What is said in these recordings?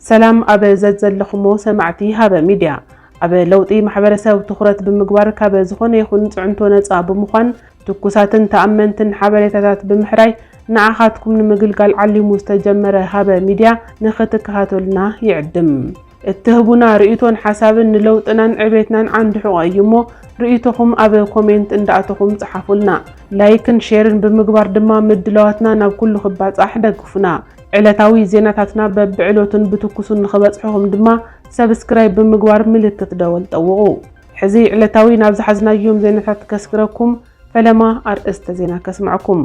ሰላም ኣብ ዘዘለኹሞ ሰማዕቲ ሃበ ሚድያ ኣብ ለውጢ ማሕበረሰብ ትኹረት ብምግባር ካብ ዝኾነ ይኹን ፅዕንቶ ነፃ ብምዃን ትኩሳትን ተኣመንትን ሓበሬታታት ብምሕራይ ንዓኻትኩም ንምግልጋል ዓሊሙ ዝተጀመረ ሃበ ሚድያ ንኽትከታተሉና ይዕድም። እትህቡና ርእይቶን ሓሳብን ንለውጥናን ዕቤትናን ዓንዲ ሕቖ እዩ እሞ ርእይቶኹም ኣብ ኮሜንት እንዳኣተኹም ጽሓፉልና። ላይክን ሼርን ብምግባር ድማ ምድላዋትና ናብ ኩሉ ክባጻሕ ደግፉና። ዕለታዊ ዜናታትና በብዕለቱን ብትኩሱን ንኽበጽሕኹም ድማ ሰብስክራይብ ብምግባር ምልክት ደወል ጠውቑ። ሕዚ ዕለታዊ ናብ ዝሓዝናዮም ዜናታት ከስግረኩም። ፈለማ ኣርእስተ ዜና ከስምዐኩም።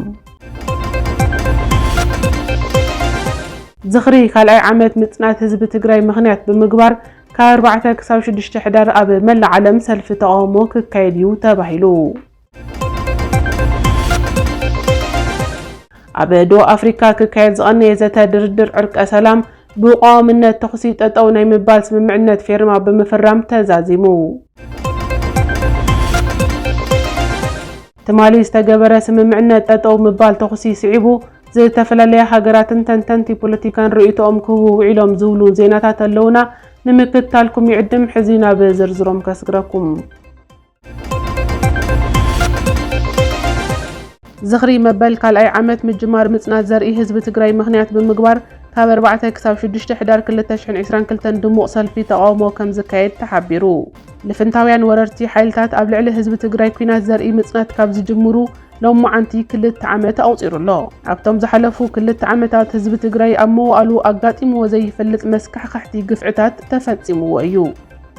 ዝኽሪ ካልኣይ ዓመት ምፅናት ህዝቢ ትግራይ ምኽንያት ብምግባር ካብ ኣርባዕተ ክሳብ ሽዱሽተ ሕዳር ኣብ መላእ ዓለም ሰልፊ ተቓውሞ ክካየድ እዩ ተባሂሉ። ኣብ ደቡብ ኣፍሪካ ክካየድ ዝቐነየ ዘተ ድርድር ዕርቀ ሰላም ብቋዋምነት ተኹሲ ጠጠው ናይ ምባል ስምምዕነት ፌርማ ብምፍራም ተዛዚሙ። ትማሊ ዝተገበረ ስምምዕነት ጠጠው ምባል ተኹሲ ስዒቡ ዝተፈላለያ ሃገራትን ተንተንቲ ፖለቲካን ርእይቶኦም ክህቡ ውዒሎም ዝብሉ ዜናታት ኣለውና። ንምክትታልኩም ይዕድም። ሕዚ ናብ ዝርዝሮም ከስግረኩም። ዝኽሪ መበል ካልኣይ ዓመት ምጅማር ምፅናት ዘርኢ ህዝቢ ትግራይ ምኽንያት ብምግባር ካብ ኣርባዕተ ክሳብ ሽዱሽተ ሕዳር ክልተ ሽሕን ዒስራን ክልተን ድሙቕ ሰልፊ ተቓውሞ ከምዝካየድ ተሓቢሩ። ልፍንታውያን ወረርቲ ሓይልታት ኣብ ልዕሊ ህዝቢ ትግራይ ኲናት ዘርኢ ምፅናት ካብ ዝጅምሩ ሎማዓንቲ ክልተ ዓመት ኣቑፂሩ ኣሎ። ኣብቶም ዝሓለፉ ክልተ ዓመታት ህዝቢ ትግራይ ኣብ መዋእሉ ኣጋጢምዎ ዘይፈልጥ መስካሕኸሕቲ ግፍዕታት ተፈፂምዎ እዩ።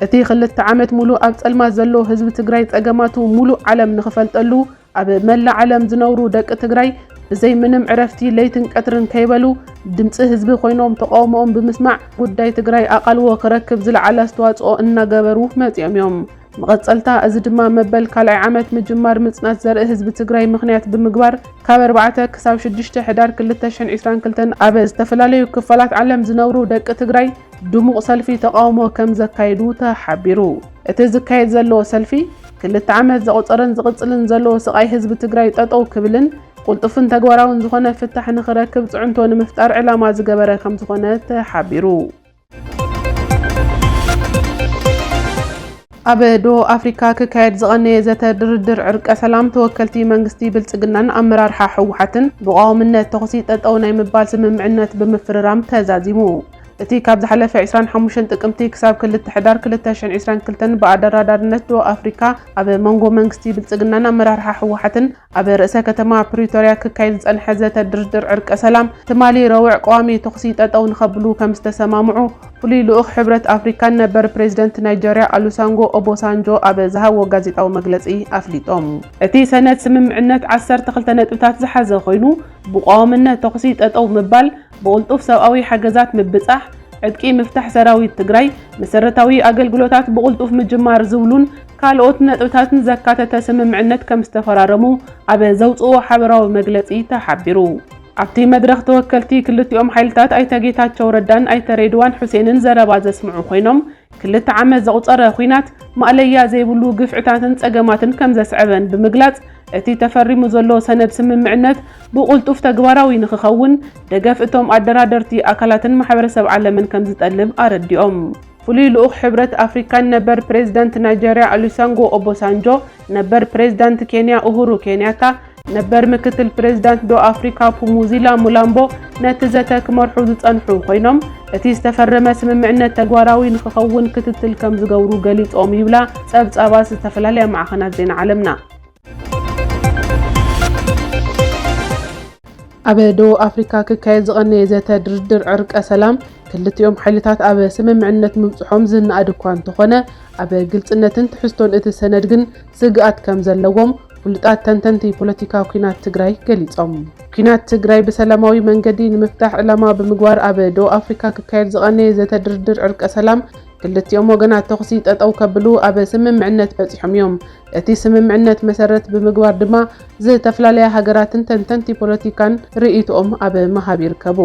እቲ ክልተ ዓመት ሙሉእ ኣብ ፀልማት ዘሎ ህዝቢ ትግራይ ፀገማቱ ሙሉእ ዓለም ንኽፈልጠሉ፣ ኣብ መላእ ዓለም ዝነብሩ ደቂ ትግራይ ብዘይ ምንም ዕረፍቲ ለይትን ቀትርን ከይበሉ ድምፂ ህዝቢ ኮይኖም ተቃውሞኦም ብምስማዕ ጉዳይ ትግራይ ኣቓልቦ ክረክብ ዝለዓለ ኣስተዋፅኦ እናገበሩ መፂኦም እዮም። መቐፀልታ እዚ ድማ መበል ካልኣይ ዓመት ምጅማር ምፅናት ዘርኢ ህዝቢ ትግራይ ምኽንያት ብምግባር ካብ ኣርባዕተ ክሳብ ሽዱሽተ ሕዳር ክልተ ሽሕን ዒስራን ክልተን ኣብ ዝተፈላለዩ ክፋላት ዓለም ዝነብሩ ደቂ ትግራይ ድሙቕ ሰልፊ ተቃውሞ ከምዘካየዱ ተሓቢሩ። እቲ ዝካየድ ዘለዎ ሰልፊ ክልተ ዓመት ዘቑፀረን ዝቕፅልን ዘለዎ ስቓይ ህዝቢ ትግራይ ጠጠው ክብልን ቁልጡፍን ተግባራውን ዝኾነ ፍታሕ ንኽረክብ ፅዕንቶ ንምፍጣር ዕላማ ዝገበረ ከምዝኾነ ተሓቢሩ። ኣብ ደቡብ ኣፍሪካ ክካየድ ዝቐነየ ዘተ ድርድር ዕርቀ ሰላም ተወከልቲ መንግስቲ ብልፅግናን ኣመራርሓ ህወሓትን ብቋዋምነት ተኹሲ ጠጠው ናይ ምባል ስምምዕነት ብምፍርራም ተዛዚሙ። እቲ ካብ ዝሓለፈ ዕስራን ሓሙሽተን ጥቅምቲ ክሳብ ክልተ ሕዳር ክልተ ሽሕን ዕስራን ክልተን ብኣደራዳርነት ዶብ ኣፍሪካ ኣብ መንጎ መንግስቲ ብልፅግናን ኣመራርሓ ህወሓትን ኣብ ርእሰ ከተማ ፕሪቶርያ ክካየድ ዝፀንሐ ዘተ ድርድር ዕርቀ ሰላም ትማሊ ረቡዕ ቀዋሚ ተኹሲ ጠጠው ንኸብሉ ከምዝተሰማምዑ ፍሉይ ልኡኽ ሕብረት ኣፍሪካን ነበር ፕሬዚደንት ናይጀርያ ኣሉሳንጎ ኦቦሳንጆ ኣብ ዝሃብዎ ጋዜጣዊ መግለፂ ኣፍሊጦም። እቲ ሰነድ ስምምዕነት ዓሰርተ ክልተ ነጥብታት ዝሓዘ ኮይኑ ብቋዋምነት ተኹሲ ጠጠው ምባል፣ ብቕልጡፍ ሰብኣዊ ሓገዛት ምብፃሕ፣ ዕጥቂ ምፍታሕ ሰራዊት ትግራይ፣ መሰረታዊ ኣገልግሎታት ብቕልጡፍ ምጅማር ዝብሉን ካልኦት ነጥብታትን ዘካተተ ስምምዕነት ከምዝተፈራረሙ ኣብ ዘውፅእዎ ሓበራዊ መግለፂ ተሓቢሩ። ኣብቲ መድረኽ ተወከልቲ ክልቲኦም ሓይልታት ኣይተ ጌታቸው ረዳን ኣይተ ሬድዋን ሑሴንን ዘረባ ዘስምዑ ኮይኖም፣ ክልተ ዓመት ዘቑፀረ ኹናት ማእለያ ዘይብሉ ግፍዕታትን ፀገማትን ከምዘስዐበን ብምግላፅ፣ እቲ ተፈሪሙ ዘሎ ሰነድ ስምምዕነት ብቑልጡፍ ተግባራዊ ንክኸውን ደገፍ እቶም ኣደራደርቲ ኣካላትን ማሕበረሰብ ዓለምን ከምዝጠልብ ኣረዲኦም። ፍሉይ ልኡኽ ሕብረት ኣፍሪካን ነበር ፕሬዚዳንት ናይጀሪያ ኦሊሰንጎ ኦቦሳንጆ፣ ነበር ፕሬዚዳንት ኬንያ ኡሁሩ ኬንያታ፣ ነበር ምክትል ፕሬዚዳንት ዶ ኣፍሪካ ፑሙዚላ ሙላምቦ ነቲ ዘተ ክመርሑ ዝፀንሑ ኮይኖም እቲ ዝተፈረመ ስምምዕነት ተግባራዊ ንክኸውን ክትትል ከምዝገብሩ ገሊፆም ይብላ ፀብፃባት ዝተፈላለያ ማዕኸናት ዜና ዓለምና። ኣብ ደቡብ ኣፍሪካ ክካየድ ዝቐነየ ዘተ ድርድር ዕርቀ ሰላም ክልቲኦም ሓይልታት ኣብ ስምምዕነት ምብፅሖም ዝነኣድ እኳ እንተኾነ ኣብ ግልፅነትን ትሕዝቶን እቲ ሰነድ ግን ስግኣት ከምዘለዎም ፍሉጣት ተንተንቲ ፖለቲካ ኲናት ትግራይ ገሊፆም። ኲናት ትግራይ ብሰላማዊ መንገዲ ንምፍታሕ ዕላማ ብምግባር ኣብ ደቡብ ኣፍሪካ ክካየድ ዝቐነየ ዘተ ድርድር ዕርቀ ሰላም ክልቲኦም ወገናት ተኹሲ ጠጠው ከብሉ ኣብ ስምምዕነት በፂሖም እዮም። እቲ ስምምዕነት መሰረት ብምግባር ድማ ዝተፈላለያ ሃገራትን ተንተንቲ ፖለቲካን ርእይትኦም ኣብ ምሃብ ይርከቡ።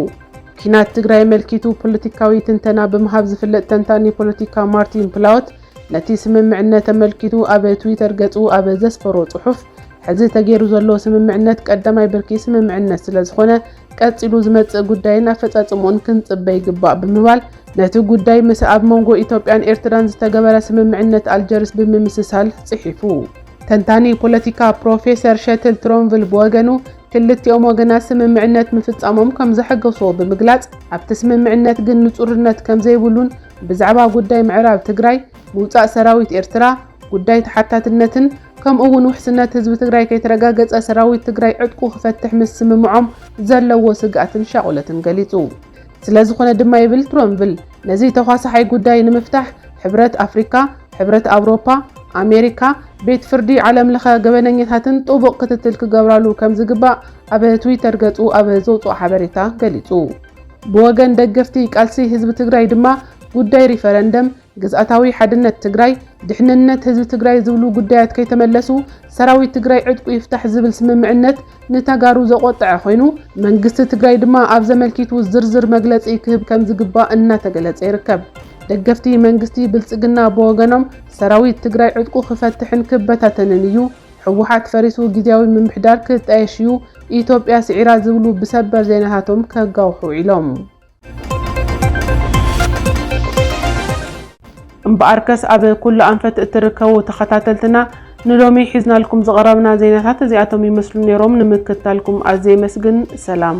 ኲናት ትግራይ ኣመልኪቱ ፖለቲካዊ ትንተና ብምሃብ ዝፍለጥ ተንታኒ ፖለቲካ ማርቲን ፕላወት ነቲ ስምምዕነት ኣመልኪቱ ኣብ ትዊተር ገጹ ኣብ ዘስፈሮ ጽሑፍ፣ ሕዚ ተገይሩ ዘሎ ስምምዕነት ቀዳማይ ብርኪ ስምምዕነት ስለዝኾነ፣ ቀጺሉ ዝመጽእ ጉዳይን ኣፈጻጽምኡን ክንጽበ ይግባእ ብምባል፣ ነቲ ጉዳይ ምስ ኣብ መንጎ ኢትዮጵያን ኤርትራን ዝተገበረ ስምምዕነት ኣልጀርስ ብምምስሳል ጽሒፉ። ተንታኒ ፖለቲካ ፕሮፌሰር ሸትል ትሮንቭል ብወገኑ፣ ክልቲኦም ወገናት ስምምዕነት ምፍጻሞም ከምዘሐጎሶ ብምግላጽ፣ ኣብቲ ስምምዕነት ግን ንጹርነት ከምዘይብሉን፣ ብዛዕባ ጉዳይ ምዕራብ ትግራይ፣ ምውፃእ ሰራዊት ኤርትራ፣ ጉዳይ ተሓታትነትን ከምኡ እውን ውሕስነት ህዝቢ ትግራይ ከይተረጋገፀ ሰራዊት ትግራይ ዕጥቁ ክፈትሕ ምስምምዖም ዘለዎ ስግኣትን ሻቑለትን ገሊፁ። ስለዝኾነ ድማ ይብል ትሮንቭል ነዚ ተዃሳሓይ ጉዳይ ንምፍታሕ ሕብረት ኣፍሪካ፣ ሕብረት ኣውሮፓ፣ ኣሜሪካ፣ ቤት ፍርዲ ዓለም ለኸ ገበነኛታትን ጥቡቕ ክትትል ክገብራሉ ከምዝግባእ ኣብ ትዊተር ገፁ ኣብ ዘውፅኦ ሓበሬታ ገሊፁ። ብወገን ደገፍቲ ቃልሲ ህዝቢ ትግራይ ድማ ጉዳይ ሪፈረንደም፣ ግዝኣታዊ ሓድነት ትግራይ፣ ድሕንነት ህዝቢ ትግራይ ዝብሉ ጉዳያት ከይተመለሱ ሰራዊት ትግራይ ዕጥቁ ይፍታሕ ዝብል ስምምዕነት ንተጋሩ ዘቖጠዐ ኮይኑ መንግስቲ ትግራይ ድማ ኣብዚ ኣመልኪቱ ዝርዝር መግለፂ ክህብ ከምዝግባእ እናተገለፀ ይርከብ። ደገፍቲ መንግስቲ ብልፅግና ብወገኖም ሰራዊት ትግራይ ዕጥቁ ክፈትሕን ክበታተንን እዩ፣ ህወሓት ፈሪሱ ግዝያዊ ምምሕዳር ክጣየሽ እዩ፣ ኢትዮጵያ ስዒራ ዝብሉ ብሰበር ዜናታቶም ከጋውሑ ውዒሎም። እምበኣርከስ ኣብ ኩሉ ኣንፈት እትርከቡ ተኸታተልትና ንሎሚ ሒዝናልኩም ዝቐረብና ዜናታት እዚኣቶም ይመስሉ ነይሮም። ንምክትታልኩም ኣዝየ የመስግን። ሰላም።